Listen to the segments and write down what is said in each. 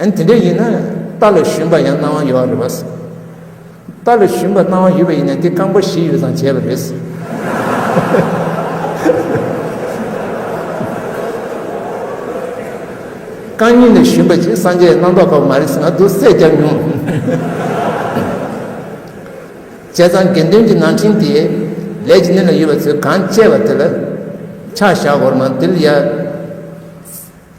ཨན། དེ་འདྲ་ཡིན་ན་རྟ་ལ་ཞོན་པ་ཡང་སྣང་བ་ཡོད་རེད་བ། རྟ་ལ་ཞོན་པ་སྣང་བ་ཡོད་པ་ཡིན་ན་དེ་རྐང་པ་བཞི་ཡོད་ཙང་བྱས་པ་རེད། རྐང་གཉིས་ལ་ཞོན་པ་ཅིག་སངས་རྒྱས་རྣམ་རྟོག་པ་མ་རེད་ཟེར་ང་སྡུག་སེ་རྒྱབ་མྱོང། བྱས་ཙང་དགེ་འདུན་གྱི་ནང་ཁྲིན་དེ་ལས་ཀྱི་གནས་ལ་ཡོད་པ་ཚོས་གང་བཅད་པ་དེ་ལ་ཕྱག་བཞག་འོར་མ་འདིར་ཡ།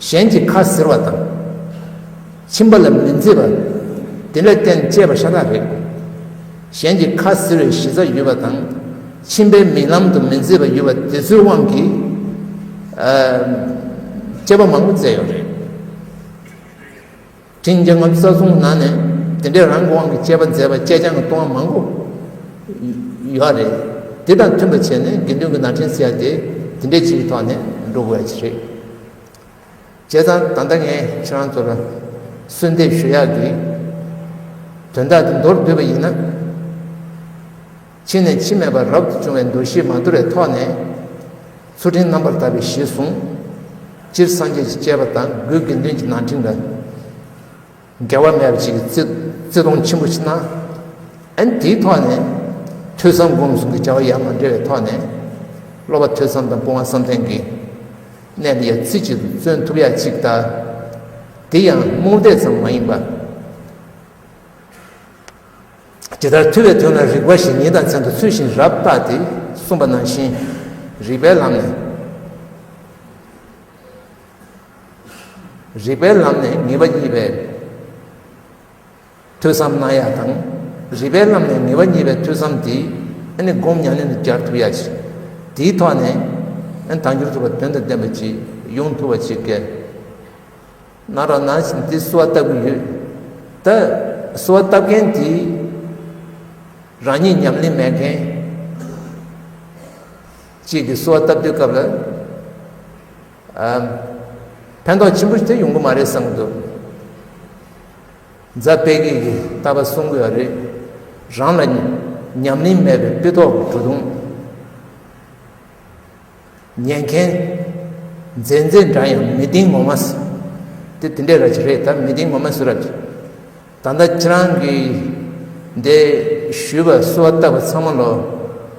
གཞན་གྱི་ཁ་ཟེར་བ་དང། ཁྱིམ་པ་ལ་མི་མཛེས་པ། དེ་ལས་བརྟེན་བཅས་པ་ཤ་སྟག་རེད། གཞན་གྱི་ཁ་ཟེར་བའི་གཞི་རྩ་ཡོད་པ་དང། ཁྱིམ་པའི་མིག་ལམ་དུ་མི་མཛེས་པ་ཡོད་པ་དེ་ཚོའི་དབང་གིས། བཅས་པ་མང་པོ་བཙལ་ཡོད་རེད། ཅིང་རྒྱ་ངམ་ས་གཟུང་ན་ནས་དེ་འདྲའི་རང་གི་དབང་གི་དཔྱད་པ་མཛད་པ་དཔྱད་བྱང་གི་ལྟུང་བ་མང་པོ་ཡོད་རེད། དེ་དང་མཐུན་པར་བྱས་ནས་དགེ་འདུན་གྱི་ན་ཕྲེང་བསལ་ཏེ་དེ་འདྲའི་ཕྱིའི་ཐོག་ནས་འགྲོ་དགོས་ཀྱི་རེད། བྱས་ཙང་ད་ལྟ་ངས་ཁྱེད་རང་ཚོར་གསོལ་འདེབས་ཞུ་ཡག་གི། དོན་དག་འདི་མདོར་བསྡུས་པ་ཡིན་ན། ཕྱི་ནས་ཕྱི་མེད་པར་རབ་ཏུ་བྱུང་བའི་འདུ་ཤེས་མ་དུལ་བའི་ཐོག་ནས། ཚུལ་ཁྲིམས་རྣམ་པར་དག་པའི་གཞི་བཟུང། སྤྱིར་སངས་རྒྱས་ཀྱི་སྤྱད་པ་དང་དགུའི་དགེ་འདུན་གྱི་ནང་འཁྲིག་འདྲ། འགལ་བ་མེད་པ་ཅིག་གིས་བརྩི་མཐོང་ཆེན་པོ་ཕྱིན། ཨན་དེའི་ཐོག་ནས། ཐོས་བསམ་སྒོམ་གསུམ་གྱི་བྱ་བ་ཡང་མ་འབྲེལ་བའི་ཐོག་ནས། སློབ་པ་ཐོས་བསམ་དང་སྤོང་བ་བསམ་གཏན་གྱི། གནད་ལ་ཡང་ཚིག་གཅིག་ཏུ་བརྩོན་ཐུབ་ཡག་ཅིག་ལྟ། དེ་ཡང་རྨོངས་དད་ཙམ་མ་ཡིན་པ། ཇི་ལྟར་ཐུལ་བའི་དུས་ན་རིག་པ་ཞིག་ཉིད་དང་མཚན་དུ་ཚུལ་བཞིན་རབ་བརྟགས་ཏེ་གསུངས་པ་ནང་བཞིན་རིག་པའི་ལམ་ནས། རིག་པའི་ལམ་ནས་ངེས་པ་གཉིས་པའི་ཐོས་བསམ་གནང་ཡ་དང། རིག་པའི་ལམ་ནས་ངེས་པ་གཉིས་པའི་ཐོས་བསམ་དེ་ནི་སྒོམ་ཉམས་ལེན་དུ་སྦྱར་ཐུབ་ཡ་ཞིང། དེའི་ཐོག་ནས་དང་འགྱུར་ཐུབ་པ་དོན་དང་ལྡན་པ་ཅིག་ཡོང་ཐུབ་པ་ཅིག་གལ། ནང་རང་ནང་བཞིན་དེ་གསོལ་བ་བཏབ་ཀྱི་ཡོད། ད་གསོལ་བ་བཏབ་མཁན་དེ་རང་ཉིད་ཉམས་ལེན་མེད་མཁན་གཅིག་གིས་གསོལ་བ་བཏབ་དུས་སྐབས་ལ་ཕན་ཐོགས་ཆེན་པོ་དེ་ཡོང་གི་མ་རེད་བསམ་གྱི་འདུག་རྫ་དཔལ་སྐྱིད་ཀྱིས་ལྟ་བ་གསུང་དགོས་པ་རེད། རང་ལ་ཉམས་ལེན་མེད་པའི་དཔེ་ཐོག་གི་བྲོ་བརྡུང། ཉན་མཁན། མཛེས་མཛེས་འདྲ་ཡང་མི་ལྡིང་ངོ་མ་སུ། དེ་དེ་འདྲའི་ར་བྱི་རེད་ད་མི་ལྡིང་ངོ་མ་སུ་ར་བྱི། ད་ལྟ་ཁྱེད་རང་གིས་འདི་ཞུས་པ་སུ་བ་ལྟ་བུ་ཚང་མ་ལོ།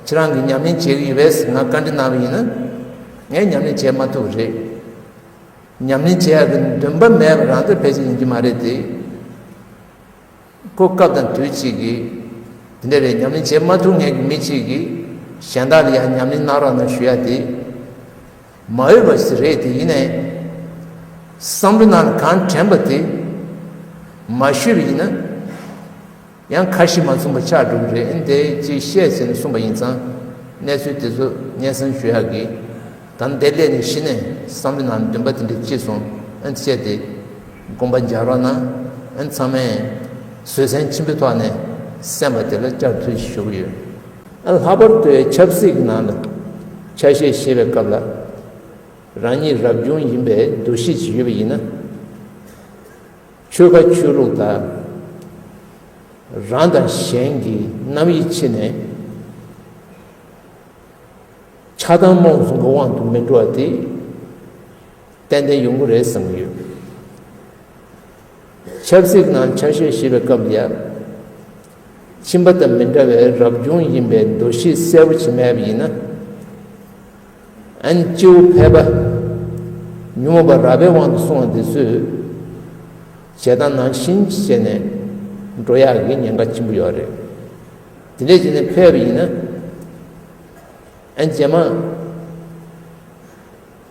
ཁྱེད་རང་གིས་ཉམས་ལེན་བྱེད་ཀྱི་ཡོད་པས་ང་བཀའ་འདྲི་གནང་བ་ཡིན། ངས་ཉམས་ལེན་བྱེད་མ་ཐུབ་པ་རེད། ཉམས་ལེན་བྱེད་ཡག་གི་འདུན་པ་མེད་པ་རང་ཚོད་ཕལ་ཆེར་ཡིན་གྱི་མ་རེད་དེ། ཁོ་སྐབས་དང་དུས་གཅིག་གི། འདི་འདྲ་རེད་ཉམས་ལེན་བྱེད་མ་ཐུབ་ངེས་ཀྱི་མི་གཅིག་གིས། གཞན་དག་ལ་ཡང་ཉམས་ལེན་གནང་རོགས་གནང་ཞུ་ཡ་དེ། མ་འོས་པ་ཞིག་རེད་དེ་ཡིན་ནའི། བསམ་བློ་ནང་ལ་གང་དྲན་པ་དེ། མ་ཞུས་པ་ཡིན་ན། ཡང་ཁ་ཞིག་མ་མཚུངས་པ་ཆགས་འགྲོ་གི་རེད་ཨེ་འདི་ཅིག་བཤད་ཟེར་ནས་གསུངས་པ་ཡིན་ཙང། གནས་ཚུལ་དེ་ཚོ་སྙན་གསང་ཞུ་ཡ་གི། དམ་བདེ་ལས་ནས་གཞི་ནས་བསམ་བློ་ནང་ལ་འདུན་པ་དེ་འདྲ་སྐྱེས་སོང་ཨེ་འདི་བཤད་དེ། བསྒོམ་པ་སྦྱར་བ་ན་ཚང་མས་བཟོད་བསྲན་ཆེན་པོའི་ཐོག་ནས་གསན་པ་དེ་ལ་བསྐྱར་མཐུད་བཞུགས་ཡོད། ལྷག་པར་དུ་ཆབ་སྲིད་ཀྱི་ནང་ལ་ཆ་ཤས་བཞེས་པའི་སྐབས་ལ་རང་ཉིད་རབ་བྱུང་ཡིན་པའི་འདུ་ཤེས་ཤིག་ཡོད་པ་ཡིན་ན། ཆོལ་ཁ་ཆོས་ལུགས་དག་རང་དང་གཞན་གྱི་རྣམ་དབྱེ་ཕྱེ་ནས་ཆགས་སྡང་རྨོངས་སུ་འགོ་དབང་དུ་མི་འགྲོ་བ་དེ། ཏན་ཏན་ཡོང་གི་རེད་བསམ་གྱི་ཡོད། ཆབ་སྲིད་ནང་ཆ་ཤས་ཞེས་པའི་སྐབས་འདིར། ཁྱིམ་པ་དང་མི་འདྲ་བའི་རབ་བྱུང་ཡིན་པའི་འདུ་ཤེས་གསལ་བོ་བྱེད་མེད་པ་ཡིན་ན། ཨན་ཅིའུ་ཕལ་པ། ཉོན་མོངས་པ་ར་བའི་དབང་དུ་སོང་བ་འདི་ཚོས། བྱེད་སྟངས་ནང་བཞིན་བྱས་ནས་འགྲོ་ཡག་གི་ཉེན་ཁ་ཆེན་པོ་ཡོད་རེད། དེ་འདྲས་བྱས་ནས་ཕེབས་པ་ཡིན་ན། ཨན་ཇེ་མང།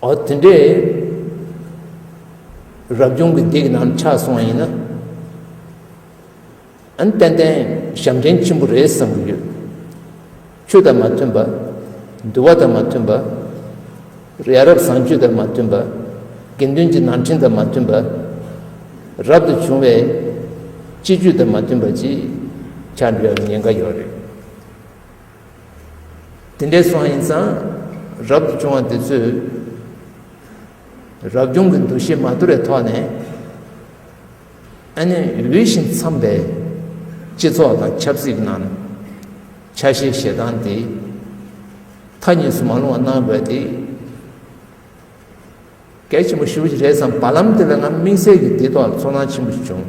ཨོ་དེ་འདྲས། རབ་བྱུང་གི་སྡིག་རྣམས་ཆགས་སོང་བ་ཡིན་ན། ཨན་ཏན་ཏན་ཞབས་འདྲེན་ཆེན་པོ་རེད་བསམ་གྱི་ཡོད། ཆོས་དང་མ་མཐུན་པ། འདུལ་བ་དང་མ་མཐུན་པ། ཡ་རབས་བཟང་སྤྱོད་དང་མ་མཐུན་པ། དགེ་འདུན་གྱི་ནང་འཁྲིང་དང་མ་མཐུན་པ། རབ་ཏུ་བྱུང་བའི་སྤྱི་རྒྱུད་དང་མ་མཐུན་པ་ཅིག་ཆགས་འགྲོ་ཡ་ཉེན་ཁ་ཡོད་རེད། དེ་འདྲའི་སོང་ཡིན་ཙང་རབ་ཏུ་བྱུང་བ་འདི་ཚོས་རབ་བྱུང་གི་འདུ་ཤེས་མ་དུལ་བའི་ཐོག་ནས་ཨ་ནེ་འོས་ཤིང་འཚམས་པའི་སྤྱི་ཚོགས་དང་ཆབ་སྲིད་ནང་ཆ་ཤས་ཞེ་སྡང་དེ་མཐའ་གཉིས་སུ་མ་ལྷུང་བ་གནང་དགོས་ཏེ་གལ་ཆེན་པོ་ཞུ་རྒྱུ་རེད་བསམ་བར་ལམ་དེ་ལ་ང་དམིགས་བསལ་གྱིས་དེའི་ཐོག་ལ་ཚོར་སྣང་ཆེན་པོ་ཞིག་བྱུང།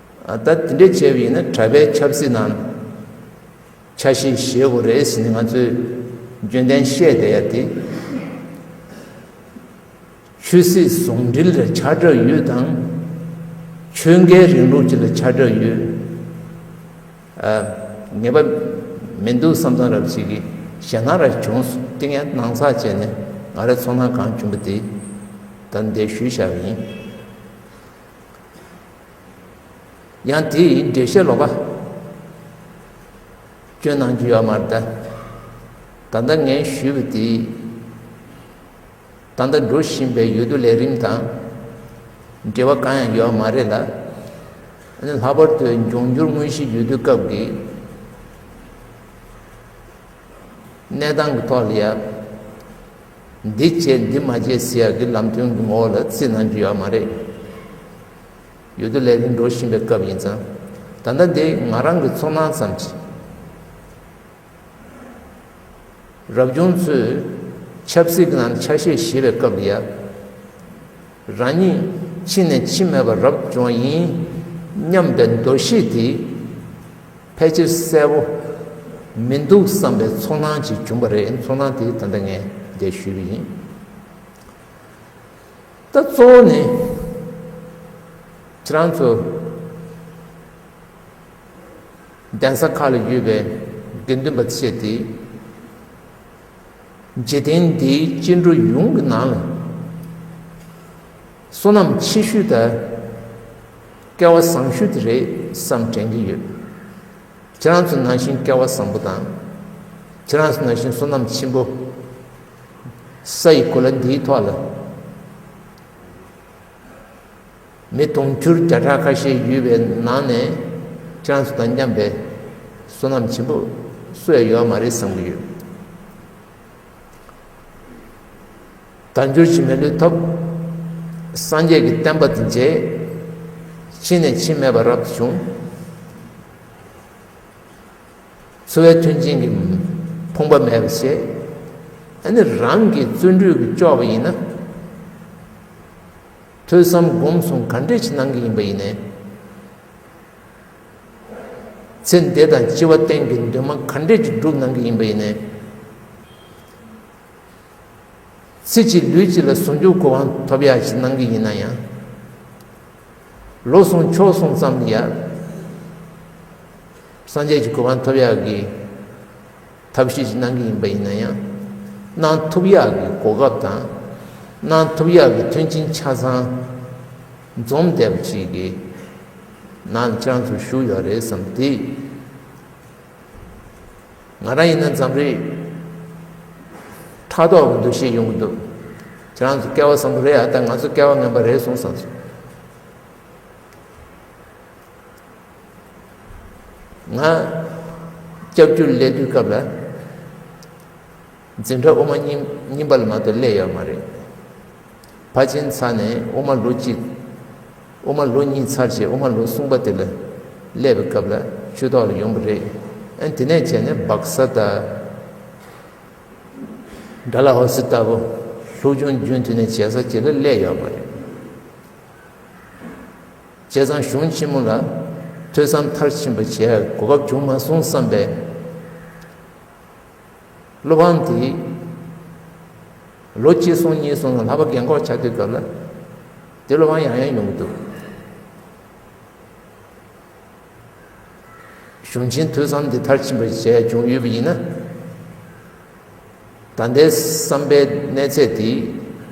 ད་དེ་འདྲས་བྱས་པ་ཡིན་ན་གྲྭ་པའི་ཆབ་སྲིད་ནང་ཆ་ཤས་བཞེས་དགོས་རེད་ཟེར་ནས་ང་ཚོས་རྒྱུན་ལྡན་བཤད་བསྡད་ཡ་དེ། ཆོས་སྲིད་ཟུང་འབྲེལ་ལ་ཆ་སྒྲོས་ཡོད་དང། ཆོས་འགལ་རིང་ལུགས་བཅས་ལ་ཆ་སྒྲོས་ཡོད། ངེས་པ་མི་འདུག་བསམ་ཚང་རབ་བྱེད་ཀྱི་ཞལ་ནང་ར་བྱུང་སྟེང་ཡང་སྣང་ཚགས་བྱས་ནས་ང་ར་ཚོང་ནང་གང་བྱུང་པ་དེ་ད་འདས་ཞུས་བཞག་པ་ཡིན། ཡང་དེ་ཡི་འགྲེལ་བཤད་ལོག་པ། སྐྱོན་སྣང་རྒྱུ་ཡོད་མར་གདའ། ད་ལྟ་ངས་ཞུས་པ་དེ། ད་ལྟ་འགྲོ་བཞིན་པའི་ཡུལ་དུ་ལས་རིམ་དང། འབྲེལ་བ་གང་ཡང་ཡོད་མ་རེད་ལ། ལྷག་པར་དུ་འབྱུང་འགྱུར་དངོས་གཞིའི་ཡུལ་དུས་སྐབས་ཀྱི། གནས་སྟངས་ཀྱི་ཐོག་ལ་ཡང། འདི་བྱས་འདི་མ་བྱས་ཟེར་ཡག་གི་ལམ་སྟོན་གྱི་ངོ་བོ་ལ་རྩིས་གནང་རྒྱུ་ཡག་མ་རེད། ཡོད་དོ་ལས་རིང་འགྲོ་བཞིན་པའི་སྐབས་ཡིན་ཙང། ད་ལྟ་འདི་ང་རང་གི་ཚོར་སྣང་ཙམ་གྱིས། རབ་བྱུང་ཚོས་ཆབ་སྲིད་ཀྱི་ནང་དུ་ཆ་ཤས་བཞེས་པའི་སྐབས་འདི་ཡ། རང་ཉིད་ཕྱི་ནས་འཆི་མེད་པ་རབ་བྱུང་བ་ཡིན་སྙམ་པའི་འདུ་ཤེས་དེ། ཕལ་ཆེར་གསལ་བོ་མི་འདུག་བསམ་པའི་ཚོར་སྣང་ཅིག་བྱུང་བ་རེད་ཚོར་སྣང་དེའི་དོན་དུ་ངས་འདི་ཞུས་པ་ཡིན། ད་གཙོ་བོ་ནི་ཁྱེད་རང་ཚོ་གདན་ས་ཁག་ལ་ཡོད་པའི་དགེ་འདུན་པ་བཅས་དེ་འཇིག་རྟེན་འདིའི་སྐྱེ་འགྲོ་ཡོངས་ཀྱི་ནང་ལ། བསོད་ནམས་ཆེ་ཤོས་དེ་སྐལ་བ་བཟང་ཤོས་དེ་རེད་བསམ་དྲན་གྱི་ཡོད། ཁྱེད་རང་ཚོ་ནང་བཞིན་སྐལ་བ་བཟང་པོ་དང། ཁྱེད་རང་ཚོ་ནང་བཞིན་བསོད་ནམས་ཆེན་པོ། ས་ཡི་གོ་ལ་འདིའི་ཐོག་ལ། མི་དུང་ཕྱུར་བརྒྱ་ཕྲག་ཁ་ཤས་ཡོད་པའི་ནང་ནས་ཁྱེད་རང་ཚོ་དང་མཉམ་པའི་བསོད་ནམས་ཆེན་པོ་སུ་ཡང་ཡོད་མ་རེད་བསམ་གྱི་ཡོད། དལ་འབྱོར་གྱིས་མི་ལུས་ཐོབ། སངས་རྒྱས་ཀྱི་བསྟན་པ་འདི་མཇལ། ཕྱིན་ནས་ཕྱིན་མེད་པར་རབ་ཏུ་བྱུང། འཚོ་བའི་མཐུན་རྐྱེན་གྱིས་ཕོངས་པ་མེད་པར་བྱས། ཨ་ནི་རང་གིས་བརྩོན་འགྲུས་ཀྱིས་ལྕོགས་པ་ཡིན་ན། ཐོས་བསམ་སྒོམ་གསུམ་ག་འདྲས་ཀྱིས་གནང་གི་ཡིན་པ་ཡིན་ནས། ཚེ་འདས་དང་སྐྱེ་བ་གཏན་གྱི་འདུན་མ་ག་འདྲས་ཀྱིས་བསྒྲུབས་གནང་གི་ཡིན་པ་ཡིན་ནས། ཚེ་གཅིག་ལུས་གཅིག་ལ་ཟུང་འཇུག་གི་དབང་ཐོབ་ཡག་ཞིག་གནང་གི་ཡིན་ན་ཡང། ལོ་སོང་ཕྱོགས་སོང་ཙམ་ཡར་སངས་རྒྱས་ཀྱི་གོ་དབང་ཐོབ་ཡག་གི། ཐབས་ཤེས་ཀྱིས་གནང་གི་ཡིན་པ་ཡིན་ན་ཡང། གནང་ཐུབ་ཡག་གི་གོ་སྐབས་དང། གནང་ཐུབ་ཡག་གི་མཐུན་རྐྱེན་ཆ་ཚང་འཛོམས་བསྡད་པ་ཞིག་གི་ནང་ཅང་ཙུ་བཞུགས་ཡོད་རེད་བསམ་སྟེ། ང་རང་ཡིན་ན་འཛམ་རིག་ཕྲག་དོག་གི་འདུ་ཤེས་ཡོང་གི་འདུག་ཅང་ཙུ་སྐལ་བ་བཟང་པོ་རེད་ཨ་ད་ང་ཚོ་སྐལ་བ་ངན་པ་རེད་སོང་བསམ་སོང། ང་སྐྱབས་རྒྱུད་སླད་དུས་སྐབས་ལ་འཛིན་གྲྭ་དབུ་མ་རྙིང་པ་ལ་མ་གཏོགས་སླད་ཡོད་མ་རེད་ཕ་ཆེན་ཚར་ནས་དབུ་མ་ལོ་གཅིག་དབུ་མ་ལོ་གཉིས་ཚར་རྗེས་དབུ་མ་ལོ་གསུམ་པ་དེ་ལ་སླད་པའི་སྐབས་ལ་ཆོས་ཐོག་ལ་ཡོང་གི་རེད་ཨན་དེ་ནས་བྱས་ནས་སྦག་ས་དང་དགྲ་ལ་ཧོ་སི་ལྟ་བུ་ལྷུག་ཆུང་རྒྱུན་མཐུད་ནས་བྱས་ས་ཅི་ལ་སླད་ཡོད་མ་རེད། བཅས་ཚང་གཞུང་ཆེན་མོ་ལ་ཐོས་བསམ་མཐར་ཕྱིན་པ་བྱེད་གོ་བབ་བྱུང་མ་སོང་བསམ་པའི་བློ་ཕམ་དེས། ལོ་གཅིག་སོང་གཉིས་སོང་ལ་ལྷག་པ་རྒན་འཁོགས་ཆགས་དུས་སྐབས་ལ་དེ་བློ་ཕམ་ཡང་ཡང་ཡོང་གི་འདུག་གཞུང་ཆེན་ཐོས་བསམ་འདི་མཐར་ཕྱིན་པ་བྱས་བྱུང་ཡོད་པ་ཡིན་ན། ད་ལྟའི་བསམ་པའི་གནས་ཚད་དེ་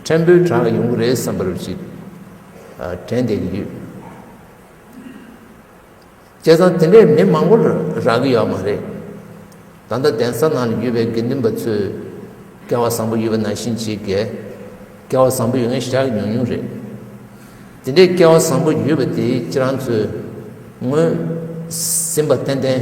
ཕྲན་བུའི་གྲངས་ཡོང་གི་རེད་བསམ་པར་ཅིག་དྲན་བསྡད་ཀྱི་ཡོད། བྱས་ཙང་དེ་འདྲའི་མི་མང་པོ་རག་གི་ཡོད་མ་རེད། ད་ལྟ་གདན་ས་ནང་ཡོད་པའི་དགེ་འདུན་པ་ཚོས་སྐལ་བ་བཟང་པོ་ཡོད་པ་ནང་བཞིན་བྱེད་དགེ། སྐལ་བ་བཟང་པོ་ཡོད་མཁན་ཤ་ཉུང་ཉུང་རེད། དེ་འདྲའི་སྐལ་བ་བཟང་པོ་ཡོད་པ་དེ་ཁྱེད་རང་ཚོས་ངོས་ཟིན་པ་ཏན་ཏན།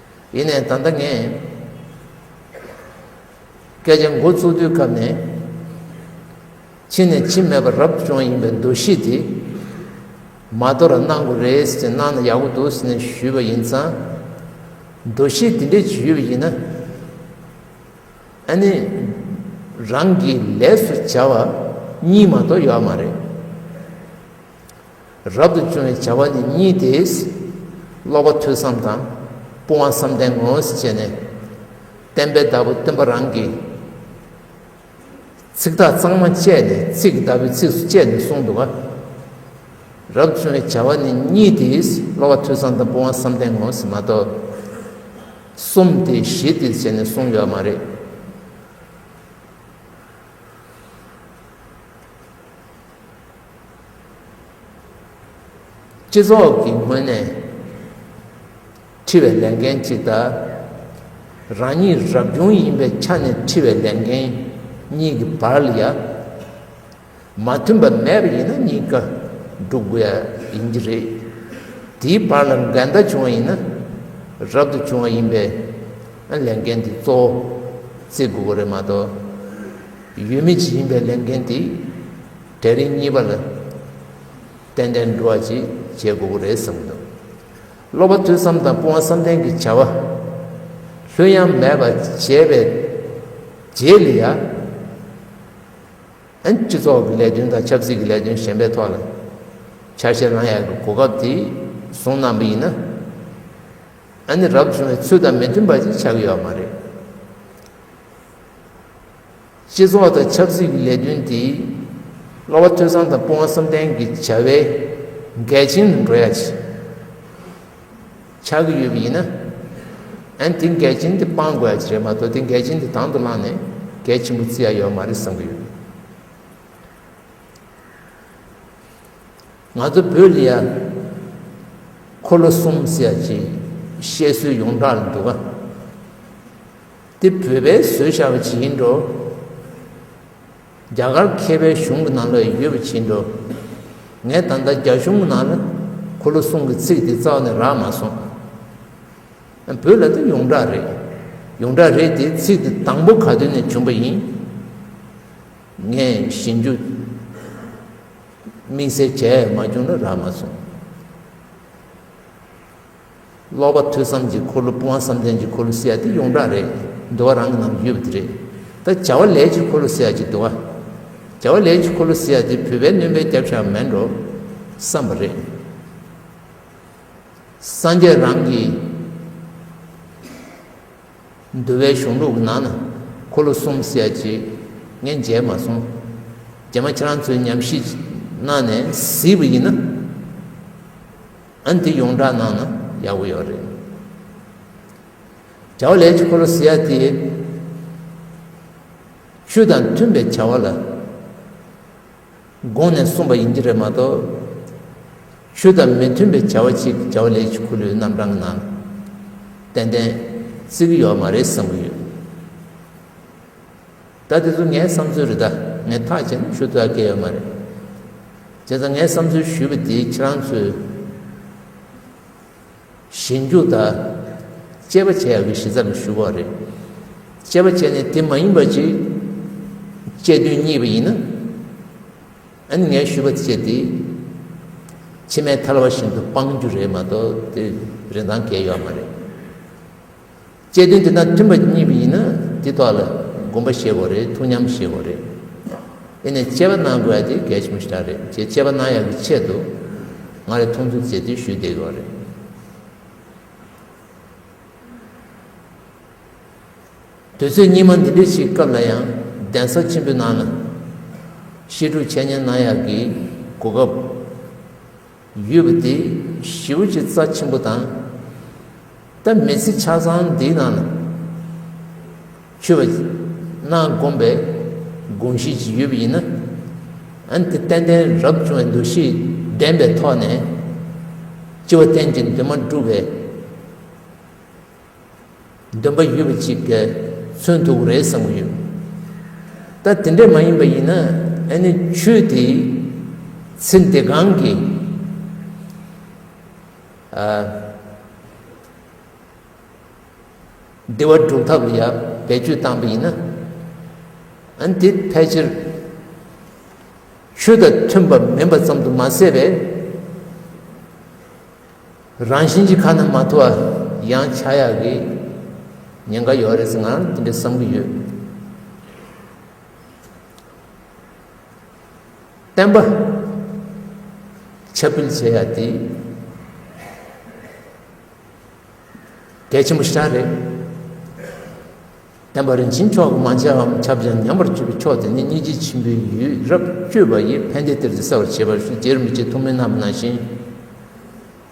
ཡིན་ནས་ད་ལྟ་ངས་སྐད་ཆ་འགོ་བཙུགས་དུས་སྐབས་ནས་ཕྱི་ནས་ཕྱི་མེད་པར་རབ་བྱུང་ཡིན་པའི་འདུ་ཤེས་དེ་མ་དོར་བར་གནང་དགོས་རེད་ཟེར་གནང་ན་ཡག་པོ་འདུག་ཟེར་ནས་ཞུས་པ་ཡིན་ཙང་འདུ་ཤེས་དེ་འདྲས་ཞུས་པ་ཡིན་ན་ཨ་ནི་རང་གིས་ལས་སུ་བྱ་བ་གཉིས་མ་གཏོགས་ཡོད་མ་རེད། རབ་ཏུ་བྱུང་བའི་བྱ་བ་འདི་གཉིས་ཏེ། སློབ་པ་ཐོས་བསམ་དང། སྤོང་བ་བསམ་གཏན་ངོ། བྱས་ནས། བསྟན་པའི་བདག་པོ་སྟོན་པ་རང་གིས། ཚིག་དག་གཙང་མ་བཅད་ནས་ཚིག་གི་བདག་པོའི་ཚིགས་སུ་བཅད་ནས་གསུངས་འདུག་ག། རབ་ཏུ་བྱུང་བའི་བྱ་བ་ནི་གཉིས་ཏེ། སློབ་པ་ཐོས་བསམ་དང་སྤོང་བ་བསམ་གཏན་ངོ། མ་གཏོགས། གསུམ་སྟེ་བཞི་སྟེ་བྱས་ནས་གསུངས་ཡོད་མ་རེད། སྤྱི་ཚོགས་ཀྱི་ངོས་ནས་འཁྲི་བའི་ལས་འགན་གཅིག་དང། རང་ཉིད་རབ་བྱུང་ཡིན་པའི་ཆ་ནས་འཁྲི་བའི་ལས་འགན་གཉིས་ཀྱི་བར་ལ་ཡང་མ་མཐུན་པ་མེད་པ་ཡིན་ན་གཉིས་ཀ་སྒྲུབ་དགོས་ཡ་ཡིན་གྱི་རེད། དེའི་བར་ལ་འགལ་ཟླ་བྱུང་བ་ཡིན་ན་རབ་ཏུ་བྱུང་བ་ཡིན་པས་ལས་འགན་དེ་གཙོ་བོ་བརྩི་དགོས་པ་རེད་མ་གཏོགས། ཡུལ་མི་གཅིག་ཡིན་པའི་ལས་འགན་དེ་གྲལ་རིམ་གཉིས་པ་ལ་ཏན་ཏན་འགྲོ་བ་གཅིག་བྱེད་དགོས་པོ་རེད་བསམ་འདུག་སློབ་པ་ཐོས་བསམ་དང་སྤོང་བ་བསམ་གཏན་གྱི་བྱ་བ་ལྷུན་ཡང་མེད་པར་བྱས་པའི་རྗེས་ལ་ཡང་སྤྱི་ཚོགས་ཀྱི་ལས་དོན་དང་ཆབ་སྲིད་ཀྱི་ལས་དོན་གཞན་པའི་ཐོག་ལ་འཆར་གཞི་བླང་ཡག་གི་གོ་སྐབས་དེ་བཟུང་གནང་པ་ཡིན་ན་ནི་རབ་བྱུང་བའི་ཚུལ་དང་མི་མཐུན་པ་ཅིག་ཆགས་ཀྱི་ཡོད་མ་རེད། སྤྱི་ཚོགས་དང་ཆབ་སྲིད་ཀྱི་ལས་དོན་དེ་སློབ་བ་ཐོས་བསམ་དང་དཔུང་བ་བསམ་གཏན་གྱི་བྱ་བའི་གལ་ཆེན་དུ་འགྲོ་ཡ་ཆགས་ཀྱི་ཡོད་པ་ཡིན་ན། དེ་གལ་ཆེན་དེ་སྤང་དགོས་ཡ་རེད་མ་གཏོགས་དེ་གལ་ཆེན་དེ་དང་དུ་བླངས་ནས་གལ་ཆེན་པོ་བརྩི་ཡ་ཡོད་མ་རེད་བསམ་གྱི་ཡོད། ང་ཚོ་བོད་ལ་ཡ་འཁོར་ལོ་གསུམ་ཟེར་ཡ་ཅེས་བཤད་སྲོལ་ཡོངས་གྲགས་ལ་འདུག་ག། འདི་བོད་པའི་བཟོས་བྱ་བ་ཇི་ཡིན་འགྲོ། རྒྱ་གར་མཁས་པའི་གཞུང་གི་ནང་ལ་ཡོད་པ་ཇི་འགྲོ། ངས་ད་ལྟ་རྒྱ་གཞུང་གི་ནང་ལ་གོ་ལ་གསུང་གི་ཚིག་འདི་རྩ་བ་ནས་རག་མ་སོང། བོད་ལ་འདི་ཡོངས་གྲགས་རེད། ཡོངས་གྲགས་རེད་དེ་ཚིག་འདི་དང་པོ་ག་དུས་ནས་བྱུང་བ་ཡིན། ངས་ཞིབ་འཇུག་དམིགས་བསལ་བྱས་མ་བྱུང་ན་རག་མ་སོང། ཀློག་པ་ཐོས་བསམ་གྱི་འཁོར་ལོ་སྤོང་བ་བསམ་གཏན་གྱི་འཁོར་ལོ་བསལ་ཡག་འདི་ཡོངས་གྲགས་རེད་འདུལ་བ་རང་གི་ནང་དུ་ཡོད་པ་འདི་རེད་ད་བྱ་བ་ལས་ཀྱི་འཁོར་ལོ་བསལ་ཡག་ཅིག་འདུལ་བ་བྱ་བ་ལས་ཀྱི་འཁོར་ལོ་བསལ་ཡག་འདི་བོད་པའི་གནོན་པའི་རྒྱབ་ཤ་མེད་འགྲོ་བསམ་པ་རེད། སངས་རྒྱས་རང་གི་འདུལ་བའི་གཞུང་ལུགས་ཀྱི་ནང་ན་འཁོར་ལོ་གསུམ་བསལ་ཡག་ཅིག་ངས་མཇལ་མ་སོང་རྒྱ་མ་ཁྱེད་རང་ཚོའི་ཉམས་ཞིབ་གནང་ནས་གཟིགས་པ་ཡིན་ན། ཨན་དེ་ཡོངས་གྲགས་ནང་ན་ཡག་པོ་ཡོད་རེད། བྱ་བ་ལས་ཀྱི་འཁོར་ལོ་ཟེར་ཡ་དེ། ཆོས་དང་མཐུན་པའི་བྱ་བ་ལ། དགོངས་ནས་གསུངས་པ་ཡིན་གྱི་རེད་མ་གཏོགས། ཆོས་དང་མི་མཐུན་པའི་བྱ་བ་ཅིག་བྱ་བ་ལས་ཀྱི་འཁོར་ལོའི་རྣམ་གྲངས་ནང། ཏན་ཏན། བརྩི་གི་ཡོད་མ་རེད་བསམ་གི་ཡོད། ད་དེ་ཚོ་ངའི་བསམ་ཚུལ་རེད་ད་ངས་ཐག་བཅད་ན་ཞུ་དག་སྐལ་ཡོད་མ་རེད། དེ་ཚོ་ངས་བསམ་ཚུལ་ཞུས་པ་དེ་ཁྱེད་རང་ཚོས་ཞིབ་འཇུག་དང་དཔྱད་པ་བྱས་ཡག་གི་གཞི་རྩ་ལ་ཞུ་བ་རེད། དཔྱད་པ་བྱས་ནས་དེ་མ་ཡིན་པ་ཅིག་དཔྱད་དོན་གཉིས་པ་ཡིན་ན་ཨ་ནི་ངས་ཞུས་པ་དཔྱད་དེ་ཕྱི་མའི་ཐལ་བ་བཞིན་དུ་སྤང་རྒྱུ་རེད་མ་གཏོགས་དེ་རིན་ཐང་སྐལ་ཡོད་མ་རེད། དཔྱད་དོན་དེ་དང་མཐུན་པ་གཉིས་པ་ཡིན་ན་དེ་ཐོག་ལ་དགོངས་པ་བཞེས་དགོས་རེད་ཐུགས་མཉམ་བཞེས་དགོས་རེད། དེ་ནས་དཔྱད་པ་གནང་དགོས་ཡ་དེ་གལ་ཆེན་པོ་ཞིག་ཆགས་རེད་ཅེས་དཔྱད་པ་གནང་ཡག་གི་ཆེད་དུ་ང་རེ་མཐོང་ཚུལ་མཛད་བསྡུས་ཞུས་བསྡད་ཡོད་རེད། དུས་ཚོད་སྙིགས་མ་འདི་འདྲའི་ཞིག་སྐབས་ལ་ཡང་གདན་ས་ཆེན་པོའི་ནང་ན་བཤད་སྒྲུབ་འཆད་ཉན་གནང་ཡག་གི་གོ་སྐབས། ཡོད་པ་དེ་ཞི་བ་ཆེ་རྩ་ཆེན་པོ་དང། ལྟ་མི་ཚེ་ཆ་ཚང་འདིའི་ནང་ལ་འཁྱོལ་བ་གནང་དགོངས་པའི་དགོངས་བཞེས་ཅིག་ཡོད་པ་ཡིན་ན། འོན་ཏེ་ཏན་ཏན་རབ་བྱུང་བའི་འདུ་ཤེས་ལྡན་པའི་ཐོག་ནས། སྤྱི་བ་གཏན་གྱི་འདུན་མ་འགྲུབ་པའི། འདོན་པ་ཡོད་པ་ཅིག་གི་མཚོན་འདུག་རེད་བསམ་གྱི་ཡོད། ད་དེ་འདྲས་མ་ཡིན་པ་ཡིན་ན་ཨ་ནི་ཁྱོད་དེ་ཚེ་འདི་གང་གི་བདེ་བ་སྒྲུབ་ཐབས་ལ་ཡང་བེད་སྤྱོད་བཏང་པ་ཡིན་ན་ཨ་ནི་དེ་ཕལ་ཆེར་ཁྱོད་དང་མཐུན་པ་མིན་པ་ཙམ་དུ་མ་ཟད་པས། རང་བཞིན་གྱི་ཁ་ན་མ་ཐོ་བ་ཡང་ཆགས་ཡག་གི་ཉེན་ཁ་ཡོད་རེད་ང་རང་དེ་འདྲ་བསམ་གྱི་ཡོད། བསྟན་པ་ཁྱབ་སྤེལ་བྱེད་ཡག་དེ་གལ་ཆེན་པོ་ཞིག་རེད། བསྟན་པ་རིན་ཆེན་མཆོག་གི་མ་མཆིའམ་ཁྱབ་བྱ་ཉམས་པར་གྱུར་པའི་མཆོག་དེ་ནི་སྙིང་རྗེ་ཆེན་པོའི་ཡུལ་རབ་སྤྱོད་པ་ཡིས་ཕན་བདེ་སྟེར་ཏེ་གསལ་བར་བྱེད་པ་ཞུ་རྗེར་མི་བྱེད་ཐུགས་མི་རྣམས་ན་བཞིན།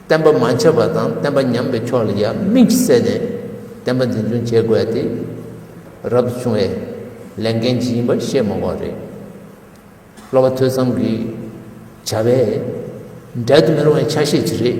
བསྟན་པ་མ་ཁྱབ་པ་དང་བསྟན་པ་ཉམས་པའི་ཕྱོགས་ལ་ཡང་དམིགས་བསལ་ནས་བསྟན་པ་འཛིན་སྐྱོང་བྱེད་དགོས་ཏེ། རབ་ཏུ་བྱུང་བས་ལས་འགན་ཇི་ཡིན་པ་ཤེས་མ་བ་རེད། སློབ་པ་ཐོས་བསམ་གྱི་བྱ་བས་འབྲལ་དུ་མི་རུང་བའི་ཆ་ཤས་ཅིག་རེད།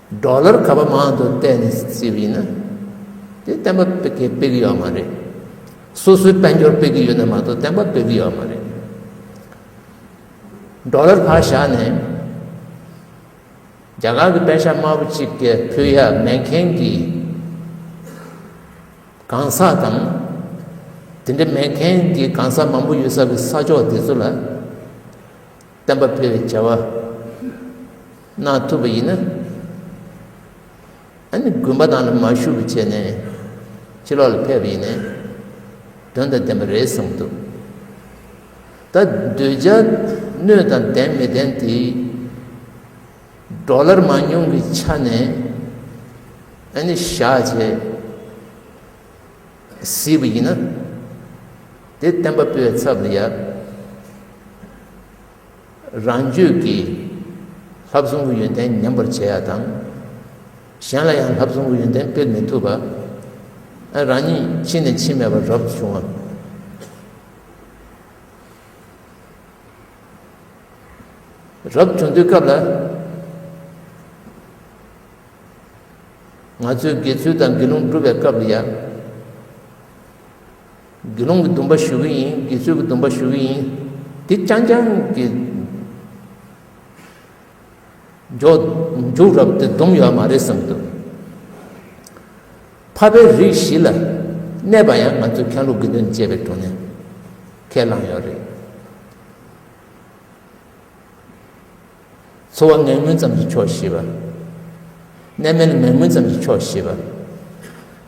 འབྲོག་ལར་ག་པར་མང་དུ་བལྟས་ནས་བརྩིས་པ་ཡིན་ན། དེ་བསྟན་པ་སྤེལ་གི་སྤེལ་གི་ཡོད་མ་རེད། སོ་སོའི་དཔལ་འབྱོར་སྤེལ་གི་ཡོད་ན་མ་གཏོགས་བསྟན་པ་སྤེལ་གི་ཡོད་མ་རེད། འབྲོག་ལར་བག་བཞག་ནས་རྒྱ་གར་གྱི་དཔལ་ཤ་དམར་པོ་གཅིག་གི་ཕུལ་ཡ་མེད་མཁན་གྱི་གང་ཟག་དང། དེ་འདྲ་མེད་མཁན་གྱི་གང་ཟག་མང་པོ་ཡོད་ས་གི་ས་ཕྱོགས་དེ་ཚོ་ལ། བསྟན་པ་འཕེལ་བའི་བྱ་བ་གནང་ཐུབ་པ་ཡིན་ན། ཨ་ནི་དགོན་པ་ནང་ལ་མ་ཞུགས་པ་བྱས་ནས་ཕྱི་ལོགས་ལ་ཕེབས་པ་ཡིན་ནས་དོན་དང་ལྡན་པ་རེད་བསམ་འདུག་ད་འདོད་ཆ་སྣོད་དང་ལྡན་མི་ལྡན་དེ་འབྲོག་ལར་མང་ཉུང་གི་ཆ་ནས་ཨ་ནི་བཞག་བྱས། སྲིད་པ་ཡིན་ན། དེ་བསྟན་པ་པོའི་ཚབ་ལ་ཡབ། རང་རྒྱུད་ཀྱི་ལྷ་བཟང་པོ་ཡོན་ཏན་ཉམས་པར་བྱེད་ཡ་དང། གཞན་ལ་ཡང་ལྷ་བཟང་པོ་ཡོན་ཏན་སྤེལ་མི་ཐུབ་པ། རང་ཉིད་ཕྱི་ནས་ཕྱི་མེད་པར་རབ་ཏུ་བྱུང་བ། རབ་བྱུང་དུས་སྐབས་ལ། ང་ཚོས་དགེ་ཚུལ་དང་དགེ་སློང་སྒྲུབ་པའི་སྐབས་ལ་ཡང། དགེ་སློང་གི་སྡུམ་པ་ཞུ་གི་ཡིན་དགེ་ཚུལ་གྱི་སྡུམ་པ་ཞུ་གི་ཡིན། དེ་རྐྱང་རྐྱང་གི། མཇུག་རབ་དེ་སྡུམ་ཡོད་མ་རེད་བསམ་དུ། འཕགས་པའི་རིགས་བཞི་ལ་གནས་པ་ཡང་ང་ཚོ་ཁྱང་ལུག་དགེ་འདུན་བཅས་པའི་དྲུང་ནས་ཁས་བླངས་ཡོད་རེད། འཚོ་བ་ངན་ངོན་ཙམ་གྱིས་ཆོག་བཞི་པ། གནས་མལ་ངན་ངོན་ཙམ་གྱིས་ཆོག་བཞི་པ།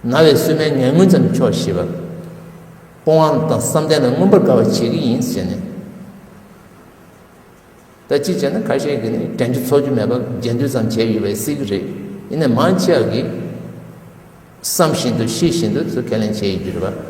ན་བའི་སུན་མལ་ངན་ངོན་ཙམ་གྱིས་ཆོག་བཞི་པ། སྤོང་བ་དང་བསམ་གཏན་ལ་མངོན་པར་དགའ་བར་བྱེད་ཀྱི་ཡིན་ཟེར་ནས། ད་ཅི་བྱས་ན་ཁ་ཤས་ཀྱིས་ནི་དྲན་རྒྱུ་ཚོར་རྒྱུ་མེད་པར་རྗེས་མཐུད་ཙམ་བྱས་ཡོད་པས་སྲིད་ཀྱི་རེད། ཡིན་ནའི་མང་ཆེ་བ་གིས་བསམ་བཞིན་དུ་ཤེས་བཞིན་དུ་སུ་ཁས་ལེན་བྱས་ཡོད་རྒྱུ་རེད་པ།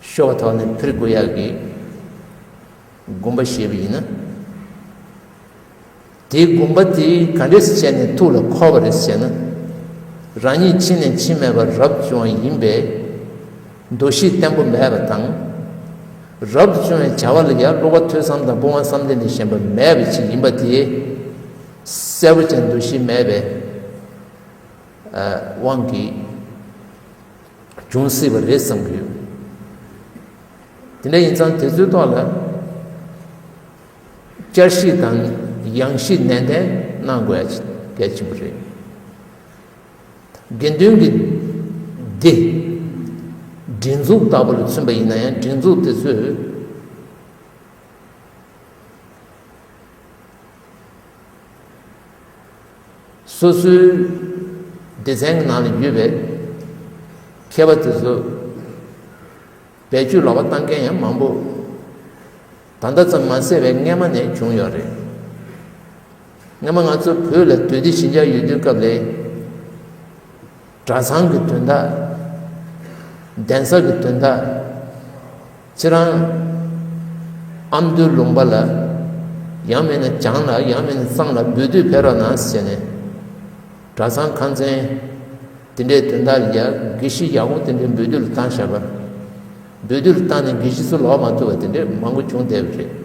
ཤོག་ཐོག་ནས་ཕིར་གུ་ཡག་གིས་སྒོམ་པ་བཤད་པ་ཡིན་ན། དེའི་སྒོམ་པ་དེ་ག་འདྲས་བྱས་ནས་ཐུགས་ལ་འཁོར་བ་རེད་ཟེར་ན། རང་ཉིད་ཕྱི་ནས་འཆི་མེད་པ་རབ་བྱུང་བ་ཡིན་པས་འདུ་ཤེས་བརྟན་པོ་མེད་པ་དང། རབ་བྱུང་བའི་བྱ་བ་ལ་ཡར་སློག་པ་ཐོས་བསམ་དང་དཔུང་བ་བསམ་གཏན་ལས་གཞན་པ་མེད་པ་ཞིག་ཡིན་པ་དེ་གསལ་པོ་ཅན་འདུ་ཤེས་མེད་པའི་དབང་གིས་འབྱུང་སྲིད་པ་རེད་བསམ་གྱི་ཡོད། དེ་འདྲ་ཡིན་ཙང་དེ་ཚོའི་ཐོག་ལ་བསྐྱར་བཤིག་དང་ཡང་བཤིག་ནན་ཏན་གནང་དགོས་གལ་ཆེན་པོ་རེད། དགེ་འདུན་གྱི་སྡེ། སྒྲིག་འཛུགས་ལྟ་བུ་ལ་མཚོན་པ་ཡིན་ན་ཡང་སྒྲིག་འཛུགས་དེ་ཚོས་སོ་སོའི་སྡེ་ཚན་གྱི་ནང་ལ་ཡོད་པའི་མཁས་པ་དེ་ཚོ་བེད་སྤྱོད་ལོག་པ་བཏང་མཁན་ཡང་མང་པོ་ད་ལྟ་ཙམ་མ་ཟད་པའི་སྔས་མ་ནས་བྱུང་ཡོད་རེད། སྔས་མ་ང་ཚོ་བོད་ལ་དུས་བདེ་ཞི་འཇགས་ཡོད་དུས་སྐབས་རེ་གྲྭ་ཚང་གི་དོན་དག་གདན་ས་གི་དོན་དག། ཚེ་རང། ཨ་མདོའི་ལུང་པ་ལ། ཡང་མེད་ན་བྱང་ལ་ཡང་མེད་ན་གཙང་ལ་འབུལ་དུས་ཕེབས་རོགས་གནང་ཟེར་ནས། གྲྭ་ཚང་ཁང་ཚན། དེ་འདྲའི་དོན་དག་ལས་དགེ་བཤེས་ཡག་པོ་དེ་འདྲའི་འབུལ་དུས་ལ་བཏང་བཞག་པ། འབུལ་དུས་ལ་བཏང་ནས་དགེ་བཤེས་ཚོ་ལོག་མ་ཐུབ་པ་དེ་འདྲའི་མང་པོ་བྱུང་བསྡད་པ་རེད།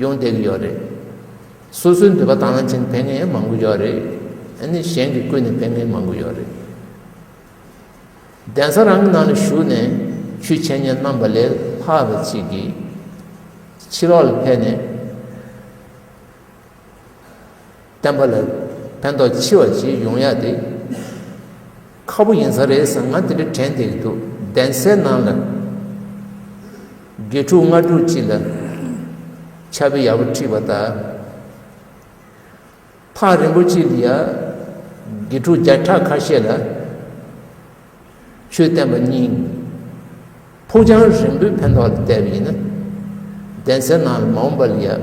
ཡོང་བསྡད་ཀྱི་ཡོད་རེད། སོ་སོའི་འདོད་པ་དང་ལེན་བྱེད་མཁན་ཡང་མང་པོ་ཡོད་རེད། ཨ་ནི་གཞན་གྱི་བཀོད་ནས་ཕེབས་མཁན་མང་པོ་ཡོད་རེད། གདན་ས་རང་གི་ནང་ལ་ཞུགས་ནས་ཆོས་འཆད་ཉན་གནང་བ་ལས་ལྷག་པའི་ཚིག་གིས་ཕྱི་ལོགས་ལ་ཕེབས་ནས། བསྟན་པ་ལ་ཕན་ཐོགས་ཆེ་བ་ཅིག་ཡོང་ཡག་དེ། ཁ་པོ་ཡིན་ས་རེད་ཟེར་ང་དེ་འདྲ་དྲན་ཐེངས་ཀྱི་འདུག་གདན་སའི་ནང་ལ། དགེ་ཕྲུག་ལྔ་དྲུག་ཅིག་ལ། ཆ་དཔེ་ཡག་པོ་ཁྲིད་པ་དང། ཐག་རིང་པོ་ཅིག་ལ་ཡང། དགེ་ཕྲུག་བརྒྱ་ཕྲག་ཁ་ཤས་ལ། ཆོས་བསྟན་པ་སྙིང། ཕུགས་རྒྱང་རིང་པོའི་ཕན་ཐོགས་ལ་བལྟས་པ་ཡིན་ན། གདན་སའི་ནང་ལ་མ་འོངས་པ་ལ་ཡང།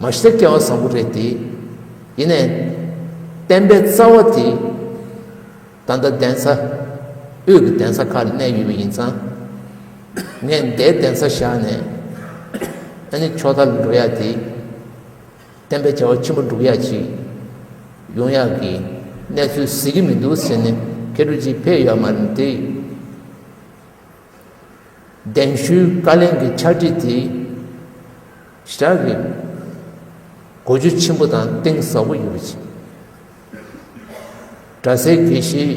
མ་གཞི་དེ་སྐལ་བ་བཟང་པོ་རེད་དེ། ཡིན་ནའི། བསྟན་པའི་རྩ་བ་དེ། ད་ལྟ་གདན་ས། དབུས་ཀྱི་གདན་ས་ཁག་ལ་གནས་ཡོད་པ་ཡིན་ཙང། ངས་མདའི་གདན་ས་བཞག་ནས། ཨ་ནི་ཕྱོགས་མཐའ་ལ་འགྲོ་ཡག་དེ། བསྟན་པའི་བྱ་བ་ཆེན་པོ་བསྒྲུབ་ཡག་ཅིག། ཡོང་ཡག་གི། གནས་ཚུལ་གཟིགས་ཀྱི་མི་འདུག་ཟེར་ནས་ཁེར་ཁྲོ་ཅིག་ཕེབས་ཡོད་མ་རེད་དེ། གདན་ཞུའི་བཀའ་ལན་གྱི་ཕྱག་བྲིས་དེ་བཞག་གི་གོ་རྒྱུ་ཆེན་པོ་དང་གཏིང་ཟབ་པོ་ཡོད་པ་བྱས། གྲྭ་སའི་དགེ་བཤེས་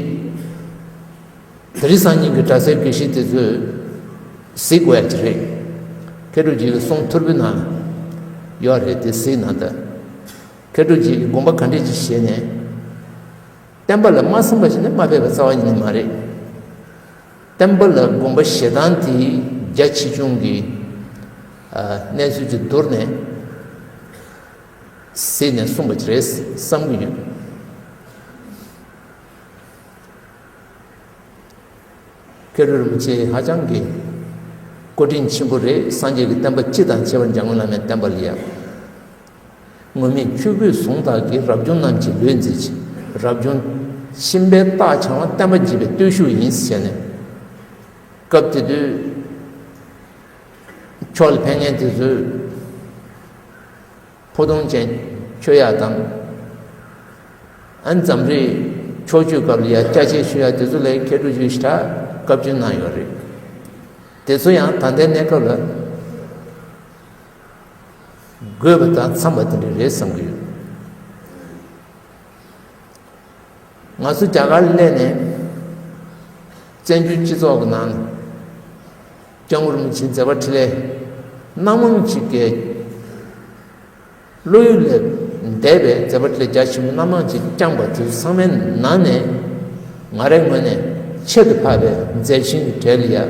དེ་རིང་སང་ཉིན་གྱི་གྲྭ་སའི་དགེ་བཤེས་དེ་ཚོས་གཟིགས་བས་ཀྱི་རེད། མཁས་གྲུབ་རྗེས་ཀྱི་གསུང་ཐོར་བུ་ན་ཡོད་རེད་དེ་གཟིགས་ན་ད། མཁས་གྲུབ་རྗེས་ཀྱི་དགོངས་པ་ག་འདྲས་ཅིག་བཞེས་ནས། བསྟན་པ་ལ་མ་སེམས་པ་ཞིག་ནི་མ་ཕེབས་པ་རྩ་བ་ཉིད་མ་རེད། བསྟན་པ་ལ་དགོངས་པ་ཞེ་སྡང་དེ་རྒྱ་ཆེ་ཆུང་གི་གནས་ཚུལ་དེ་བསྡུར་ནས་གཟིགས་ནས་གསུངས་པ་རེད་བསམ་གྱི་ཡོད། ཀེ་རུ་རིན་པོ་ཆེ་ཧ་ཅང་གི་བཀའ་དྲིན་ཆེན་པོ་རེད་སངས་རྒྱས་ཀྱི་བསྟན་པ་སྤྱི་དང་བྱེ་བ་འཇམ་མགོན་བླ་མའི་བསྟན་པ་ལ་ཡང། དངོས་མེད་བཅུ་པོས་གཟུངས་ཐག་གིས་རབ་བྱུང་རྣམས་ཀྱི་ལུས་མཛེས་བྱེད། རབ་བྱུང། གཤིན་པའི་རྟགས་འཆང་བ་བསྟན་པ་བགྱིད་པའི་བརྟུལ་ཞུགས་ཡིན་ཟེར་ནས། སྐབས་དེ་དུས། ཕྱོགས་ལ་ཕན་ངན་དེ་ཚོའི། ཕུ་ཐུང་ཅན། ཆོས་ཡག་དང། ཨན་འཛམ་རིག། ཕྱོགས་བཅུའི་སྐབས་ལ་ཡ་སྐྱ་ཆེ་ཤོས་ཡག་དེ་ཚོ་ལས་མཁས་གྲུབ་བརྒྱུད་ཞི་དྲག་བཀའ་བཀྱོན་གནང་ཡོད་རེད། དེ་ཚོ་ཡང་ད་ལྟའི་གནས་སྐབས་ལ། དགོས་པ་དང་འཚམས་པ་དེ་འདྲ་རེད་བསམ་གྱི་ཡོད། ང་ཚོ་རྒྱ་གར་སླེབས་ནས་བཙན་བྱོལ་སྤྱི་ཚོགས་ཀྱི་ནང་ལ་ལྕང་ཨུ་རིན་ཆེན་ཛེ་བྷ་ཁྲི་ལའི་སྣ་མང་ཅིག་གི་བློ་ཡུལ་ལས་འདས་པའི་ཛེ་བྷ་ཁྲི་ལའི་རྒྱ་ཆེན་པོ་སྣ་མང་ཅིག་བསྐྱངས་པ་དེ་ཚོ་ཚང་མའི་ནང་ནས་ང་རའི་ངོས་ནས་ཁྱད་དུ་འཕགས་པའི་མཛད་ཆེན་གྱི་གྲལ་ལ་ཡ།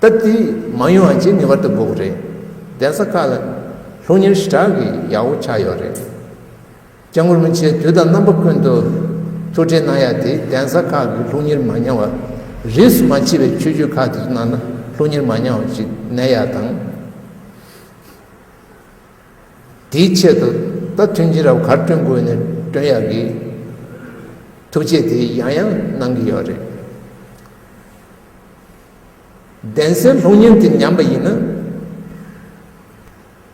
སྟབས་བདེ་མང་ཡོང་བ་བཅས་ངེས་པར་དུ་དགོས་རེད། གདན་ས་ཁག་ལ་ལྷུང་ཉེར་བཞི་སྦྲགས་ཀྱི་ཡག་བོ་ཆགས་ཡོད་རེད། སྐྱབས་མགོན་རིན་ཆེན་དུས་དང་རྣམ་པ་ཀུན་ཏུ་ཐུགས་ཁྲལ་གནང་ཡག་དེ་གདན་ས་ཁག་གི་ལྷུང་ཉེར་མ་ཉམས་བ། རིས་སུ་མ་མཆིས་པའི་ཆོས་བརྒྱུད་ཁག་གི་ནང་ན་ལྷུང་ཉེར་མ་ཉམས་བ་ཞིག་གནས་ཡག་དང། དེའི་ཆེད་དུ་སྟབས་མཐུན་ཅི་རབས་གར་བསྐྲུན་དགོས་ནས་བསྐྲུན་ཡག་གི། ཐུགས་རྗེ་དེ་ཡང་ཡང་གནང་གི་ཡོད་རེད། གདན་སའི་ལྷུག་བརྙན་དེ་ཉམས་པ་ཡིན་ན།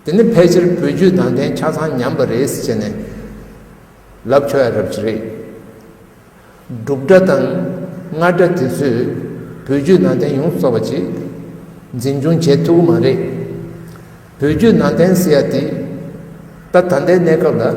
དེ་ནི་ཕལ་ཆེར་བོད་བརྒྱུད་དང་ལྡན་ཆ་ཚང་ཉམས་པ་རེད་ཟེར་ནས་ལབ་ཆོག་ཡ་རབ་ཅིག་རེད། འབྲུག་སྒྲ་དང་རྔ་སྒྲ་དེ་ཚོས་བོད་བརྒྱུད་ནང་བསྟན་ཡོངས་གསོ་བ་ཅིག་འཛིན་སྐྱོང་བྱེད་ཐུབ་ཀྱི་མ་རེད། བོད་བརྒྱུད་ནང་བསྟན་ཟེར་ཡ་དེ་ད་ད་ལྟའི་གནས་སྐབས་ལ།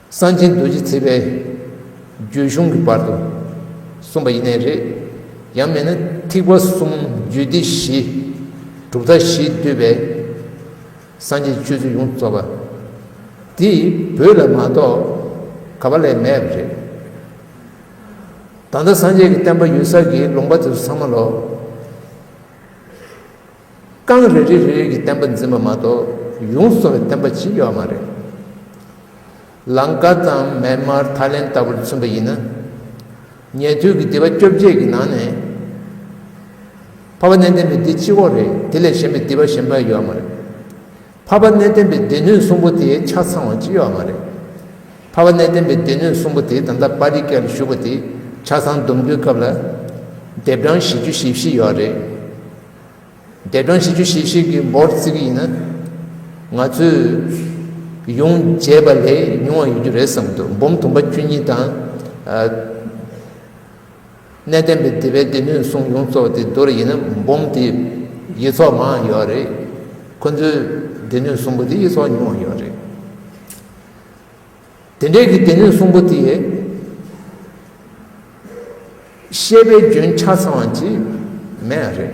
གསང་ཆེན་རྡོ་རྗེ་ཚེ་པའི་རྒྱུད་གཞུང་གི་བར་དུ་གསུངས་པ་ཡེ་ནས་རེད། ཡང་མིན་ན་ཐིག་པ་གསུམ་རྒྱུད་སྡེ་བཞི། གྲུབ་མཐའ་བཞི་བསྡུས་པའི་སངས་རྒྱས་སྤྱོད་ཚུལ་ཡོངས་རྫོགས་པ། འདི་བོད་ལ་མ་གཏོགས་ག་བ་ལས་མེད་པ་རེད། ད་ལྟ་སངས་རྒྱས་ཀྱི་བསྟན་པ་ཡོད་སར་གྱི་ལུང་པ་དེ་ཚོ་ཚང་མ་ལོག། རྐང་རེ་རེ་རེ་གི་བསྟན་པ་འཛིན་པ་མ་གཏོགས་ཡུང་སོ་བའི་བསྟན་པ་ཅིས་ཡོད་མ་རེད། ལངྐ་དང་མན་དམར་ཐ་ལན་ལྟ་བུར་མཚོན་པ་ཡིན་ན། ཉེ་དུས་ཀྱི་སྡེ་བ་བཅོ་བརྒྱད་ཀྱི་ནང་ནས། ཕ་བ་གནས་བརྟན་པའི་སྡེ་སྤྱི་བོ་རེད་དེ་ལས་གཞན་པའི་སྡེ་བ་གཞན་པ་ཡོད་མ་རེད། འཕགས་པ་གནས་བརྟན་པའི་སྡེ་སྣོད་གསུམ་པོ་དེ་ཆ་ཚང་བ་ཅི་ཡོད་མ་རེད། འཕགས་པ་གནས་བརྟན་པའི་སྡེ་སྣོད་གསུམ་པོ་དེ་ད་ལྟ་དཔའ་རིས་སྐལ་བཞུགས་པ་དེ་ཆ་ཚང་བསྡོམས་རྒྱུའི་སྐབས་ལ། ལྡེབ་གྲངས་བཞི་བཅུ་ཞེ་བཞི་ཡོད་རེད། ལྡེབ་གྲངས་བཞི་བཅུ་ཞེ་བཞི་གི་འབོར་བརྩི་གི་ཡིན་ན། ང་ཚོས་ཡོངས་བརྒྱད་པ་ལས་ཉུང་བ་ཡོད་རྒྱུ་རེད་བསམ་འདུག་འབུམ་དུམ་པ་བཅུ་གཉིས་དང། གནས་བརྟན་པའི་དེ་བས་དེ་ནུས་གསུང་ཡོངས་རྫོགས་དེ་མདོར་ཡིན་ན་འབུམ་དེ་ཡི་ཚོགས་མང་ཡོད་རེད། ཁོ་ཚོས་དེ་ནུས་གསུང་པོ་དེ་ཡི་ཚོགས་ཉུང་ཡོད་རེད། དེ་འདྲའི་གི་དེ་ནུས་གསུང་པོ་དེ་ཡི་བཤད་པའི་རྒྱུན་ཆ་ཚང་བ་གཅིག་མེད་རེད།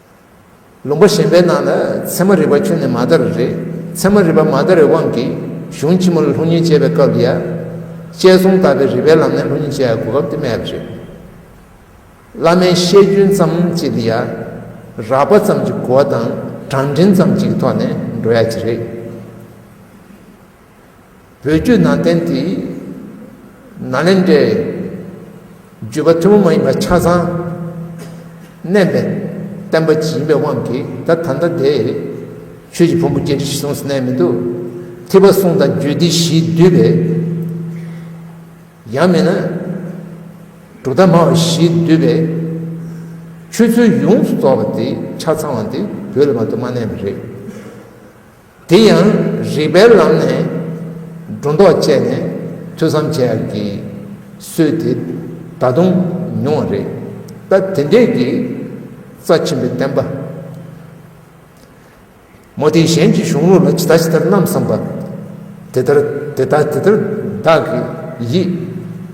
ལུང་པ་གཞན་པའི་ནང་ལ་ཚད་མ་རིག་པ་ཁྱོན་ནས་མ་དར་རེད། ཚད་མ་རིག་པ་མ་དར་བའི་དབང་གིས་གཞུང་ཕྱི་མ་ལ་ལྷུག་རྙིང་དཔྱད་པའི་སྐབས་ལ་ཡ། དཔྱད་གསུམ་བཏགས་པའི་རིགས་པའི་ལམ་ནས་ལྷུག་རྙིང་དཔྱད་དགོས་སྐབས་དེ་སྨྲས་པ་རེད། བླ་མའི་བཤད་རྒྱུན་ཙམ་གཅིག་དེ་ཡ། རགས་པ་ཙམ་གྱི་གོ་བ་དང་གྲངས་འབྲིང་ཙམ་གཅིག་གི་ཐོག་ནས་འགྲོ་ཡ་གཅིག་རེད། བོད་བརྒྱུད་ནང་བསྟན་དེ་ནཱ་ལེནྡྲའི་བརྒྱུད་པ་ཐུན་མོང་མ་ཡིན་པ་ཆ་ཚང་བསྣན་པའི་བསྟན་པ་ཡིན་པའི་དབང་གིས་ད་ད་ལྟ་དེ་ཆོས་ཀྱི་ཕུང་པོ་སྐྱེ་འགྲིགས་གསུངས་སུ་གནས་མི་འདུག་ཐིགས་པ་གསུང་དང་རྒྱུད་སྡེ་བཞིས་བསྡུས་པའི་ཡང་མིན་ན་དྲུག་དང་མང་བ་བཞིས་བསྡུས་པའི་ཆོས་ཚུལ་ཡོངས་སུ་རྫོགས་པ་དེ་ཆ་ཚང་བ་འདི་བོད་ལ་མ་གཏོགས་མ་གནས་པ་རེད། དེ་ཡང་རིག་པའི་ལམ་ནས་སྒྲོ་འདོགས་བཅད་ནས་ཐོས་བསམ་བྱས་ཀྱི་སྲོལ་དེ་ད་དུང་ཉུང་བ་རེད། ད་དེ་འདྲས་ཀྱི་རྩ་ཆེན་པོའི་བསྟན་པ། མོ་དེ་གཞན་གྱི་གཞུང་ལུགས་ལ་ཇི་ལྟ་ཇི་ལྟར་རྣམ་བསམ་པ། དེ་ལྟར་དེ་ལྟ་དེ་ལྟར་བདག་གི་ཡིད།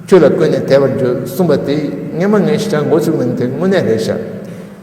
ཁྱོད་ལ་བཀོད་ནས་དད་པར་འགྱུར་གསུངས་པ་དེ་ངན་མ་ངན་ཞེ་དྲག་མགོ་བཙུགས་གནང་དེ་དངོས་གནས་རེད་བཞག།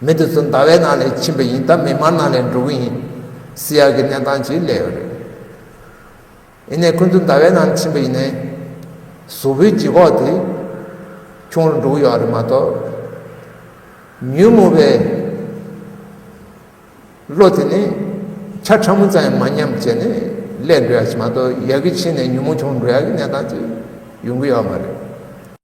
མི་དེ་ཚོ་ཟླ་བའི་ནང་ལས་ཕྱིན་པ་ཡིན་ད་མིག་དམར་ནང་ལས་འགྲོ་གི་ཡིན། སི་ཡར་གྱི་གནས་སྟངས་ཀྱིས་ལས་ཡོད་རེད། ཡིན་ནས་ཁོ་ཚོ་ཟླ་བའི་ནང་ཕྱིན་པ་ཡིན་ནའི། བཟོ་བོའི་ལྗིད་ཁོག་དེ་ཁྱུང་རུ་འགྲོ་གི་ཡོད་རེད་མ་གཏོགས། ཉོན་མོངས་པའི་བློ་དེ་ནི་ཆ་ཕྲ་མོ་ཙམ་ཡང་མ་ཉམས་བྱས་ནས་ལས་འགྲོ་ཡག་ཞིག་མ་གཏོགས་ཡར་གྱི་ཕྱིན་ནས་ཉོན་མོངས་ཆུང་རུ་འགྲོ་ཡག་གི་གནས་སྟངས་ཅིག་ཡོང་གི་ཡོད་མ་རེད།